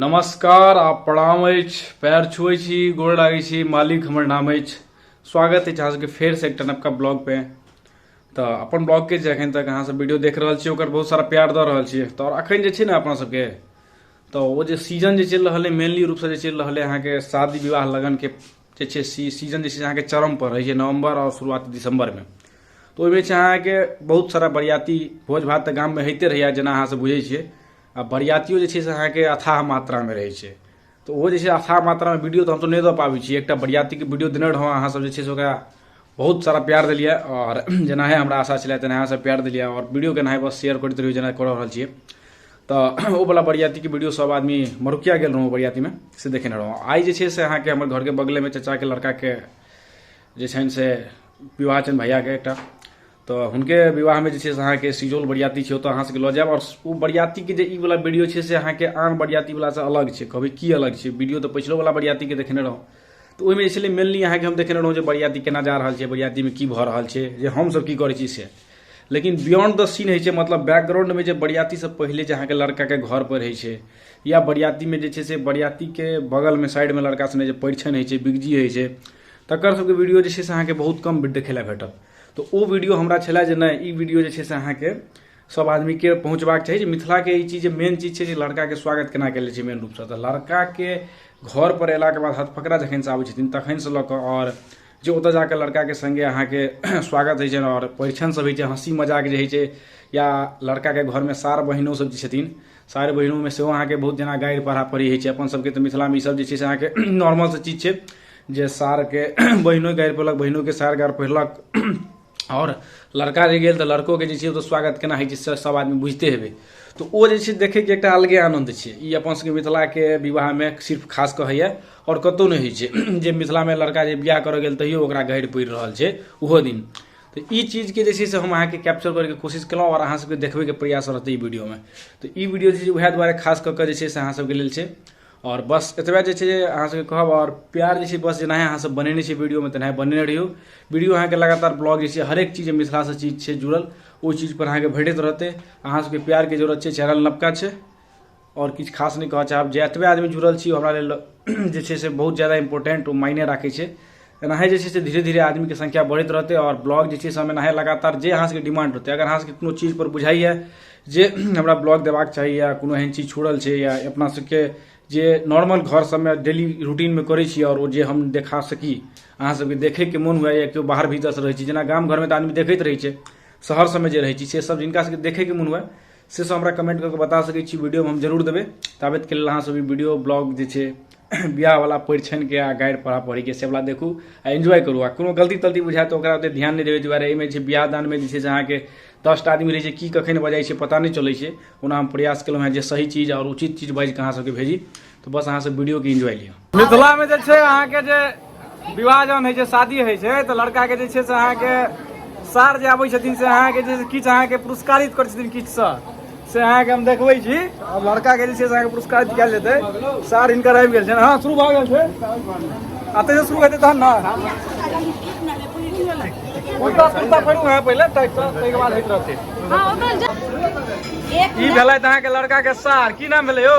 नमस्कार आप प्रणाम अछि पैर छुए छी गोड़ लागै छी मालिक हमर नाम अछि स्वागत अछि अहाँ सबके फेर से एकटा नवका ब्लॉग पे तऽ अपन ब्लॉग के जे अखन तक अहाँ सब वीडियो देख रहल छी ओकर बहुत सारा प्यार दऽ रहल छी तऽ आओर अखन जे छै ने अपना सबके तऽ ओ जे सीजन जे चलि रहल है मेनली रूपसँ जे चलि रहल है अहाँके शादी विवाह लगनके जे छै सी सीजन जे छै अहाँके चरमपर रहै छै नवम्बर आओर शुरुआत दिसम्बरमे तऽ ओहिमे छै अहाँके बहुत सारा बरियाती भोज भात तऽ गाममे होइते रहैए जेना अहाँसभ बुझै छियै आ बरियातियो जे छै से अहाँके अथाह मात्रामे रहै छै तऽ ओहो जे छै अथाह मात्रामे वीडियो तऽ हमसभ नहि दऽ पाबै छी एकटा बरियातीके वीडियो देने रहौँ अहाँसभ जे छै से ओकरा बहुत सारा प्यार देलिए आओर जेनाहे हमरा आशा छलै तेनाहे अहाँसभ प्यार देलिए आओर वीडियोके एनाहे बस शेयर करैत रहियौ जेना कऽ रहल छियै तऽ ओ वाला बरियातीके वीडियो सब आदमी मरुकिया गेल रहौं बरियातीमे से देखेने रहौं आइ जे छै से अहाँके हमर घरके बगलेमे चचाके लड़काके जे छनि से विवाह छनि भैयाके एकटा तऽ हुनके विवाहमे जे छै से अहाँके सिजौल बरियाती छै ओतऽ अहाँ सबके लऽ जायब आओर ओ बरियातीके जे ई वाला वीडियो छै से अहाँके आन बरियाती वालासँ अलग छै कहबै की अलग छै वीडियो तऽ पछिलो वाला बरियातीके देखेने रहौं तऽ ओहिमे जे छलै मेनली अहाँके हम देखेने रहौं जे बरियाती केना जा रहल छै बरियातीमे की भऽ रहल छै जे हमसब की करै छी से लेकिन बियॉन्ड द सीन होइ छै मतलब बैकग्राउंडमे जे बरियातीसँ पहिले जे अहाँके लड़काके घर पर होइ छै या बरियातीमे जे छै से बरियातीके बगलमे साइडमे लड़का सने जे परिछन होइ छै बिगजी होइ छै तकर सबके वीडियो जे छै से अहाँके बहुत कम देखै लए भेटत तऽ ओ वीडियो हमरा छलै जे नहि ई वीडियो जे छै से अहाँके सब आदमीके पहुँचबाक चाही जे मिथिलाके ई चीज मेन चीज छै जे लड़काके स्वागत केना कयल छै मेन रूपसँ तऽ लड़काके घर पर अयलाके बाद हथफकरा जखनसँ आबै छथिन तखनसँ लऽ कऽ आओर जे ओतऽ जाके लड़काके सङ्गे अहाँके स्वागत होइ छनि आओर परिछन सब होइ छै हँसी मजाक जे होइ छै या लड़काके घरमे सार बहिनो सब जे छथिन सार बहिनोमे सेहो अहाँके बहुत जेना गारि पढ़ा पढ़ी होइ छै अपन सबके तऽ मिथिलामे ई सब जे छै से अहाँके नॉर्मल सा चीज छै जे सारके बहिनो गारि पढ़लक बहिनोके सार गारि पढ़लक आओर लड़का जे गेल तऽ लड़कोके जे छै ओतय स्वागत केना होइ छै से सभ आदमी बुझिते हेबै तऽ ओ जे छै देखयके एकटा अलगे आनन्द छै ई अपन सभके मिथिलाके विवाहमे सिर्फ खास कऽ होइए आओर कतहु नहि होइ छै जे मिथिलामे लड़का जे बियाह करय गेल तैयो ओकरा गढ़ि पड़ि रहल छै ओहो दिन तऽ ई चीजके जे छै से हम अहाँके कैप्चर करैके कोशिश केलहुँ आओर अहाँ सभके देखबैके प्रयास रहतै ई वीडियोमे तऽ ई वीडियो जे छै उएह दुआरे खास कऽ कऽ जे छै से अहाँ सभके लेल छै आओर बस एतबे जे छै अहाँ सबके कहब आओर प्यार जे छै बस जेनाहि अहाँ सब बनेने छी वीडियोमे तेनाहि बनेने रहियौ वीडियो अहाँके लगातार ब्लॉग जे छै हरेक चीज मिथिलासँ चीज छै जुड़ल ओ चीजपर अहाँके भेटैत रहतै अहाँ सबके प्यारके जरूरत छै चैनल नवका छै आओर किछु खास नहि कहऽ चाहब जे एतबे आदमी जुड़ल छी हमरा लेल जे छै से बहुत ज्यादा इम्पोर्टेंट ओ मायने राखै छै एनाहे जे छै से धीरे धीरे आदमीके संख्या बढ़ैत रहतै आओर ब्लॉग जे छै से हम एनाहे लगातार जे अहाँ सबके डिमांड रहतै अगर अहाँ सबके कोनो चीज पर बुझाइए जे हमरा ब्लॉग देबाक चाही या कोनो एहन चीज छोड़ल छै या अपना सबके जे नॉर्मल घर सबमे डेली रूटीनमे करै छी आओर ओ जे हम देखा सकी अहाँ सबके देखैके मोन हुए या केओ बाहर भीतरसँ रहै छी जेना गाम घरमे तऽ आदमी देखैत रहै छै शहर सबमे जे रहै छी से सब जिनका सबके देखैके मोन हुए से सब हमरा कमेंट करके बता सकै छी वीडियो हम जरूर देबै ताबत के लेल अहाँ सब वीडियो ब्लॉग जे छै बियाह वाला परिछन के आ गाइड पढ़ा पढ़ी के सेवला देखू आ एंजॉय करू आ कोनो गलती तलती बुझाय तो ओकरा ओते ध्यान नहीं देवे दुआरे एहिमे छै बियाह दान में जे छै से अहाँके दसटा आदमी रहै छै की कखन बजाइ छै पता नहीं चलै छै ओना हम प्रयास केलहुँ हैं जे सही चीज और उचित चीज बाजि कऽ अहाँ सबके भेजी तो बस अहाँ सब वीडियो के एंजॉय लियो मिथिला में जे छै अहाँ के जे विवाह जहन होइ छै शादी होइ छै तऽ लड़का के जे छै से अहाँ के सार जे आबै छथिन से अहाँ के जे किछु अहाँ के पुरस्कारित करै छथिन किछु सँ से अहाँ के हम देखबै छी आ लड़का के जे छै से अहाँ के पुरस्कारित कयल जेतै सार हिनकर आबि गेल छनि हँ शुरू भऽ गेल छै अतै से शुरू हेतै तहन ने उल्टा सुल्टा पड़ू अहाँ पहिले ताहि सँ ताहिके बाद होइत रहतै हाँ उधर जा एक ई भेलथि अहाँके लड़का के सार की नाम भेलै यौ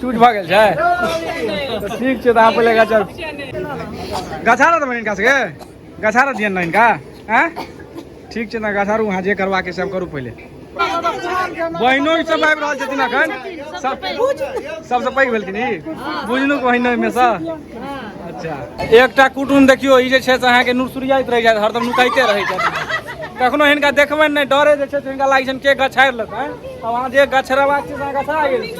चूट भऽ गेल छै तऽ ठीक छै तऽ अहाँ पहिले गाछ गछा रहत बहिन हिनका सबके गछा रहत दियन ने हिनका आँय ठीक छै ने गछा रहू अहाँ जे करबाके से करू पहिले बहिनो ई सब आबि रहल छथिन अखन सबसँ पैघ भेलखिन ई बुझनु बहिनोमे सँ अच्छा एकटा कुटुम देखियो ई जे छै से अहाँके नुरसुरियाइत रहि जायत हरदम नुकाइते रहै छथि कखनो हिनका देखबनि नहि डरे जे छै से हिनका लागै छनि के गछारि लेत आँय आब अहाँ जे गछरेबाक छै से अहाँ गछरा गेल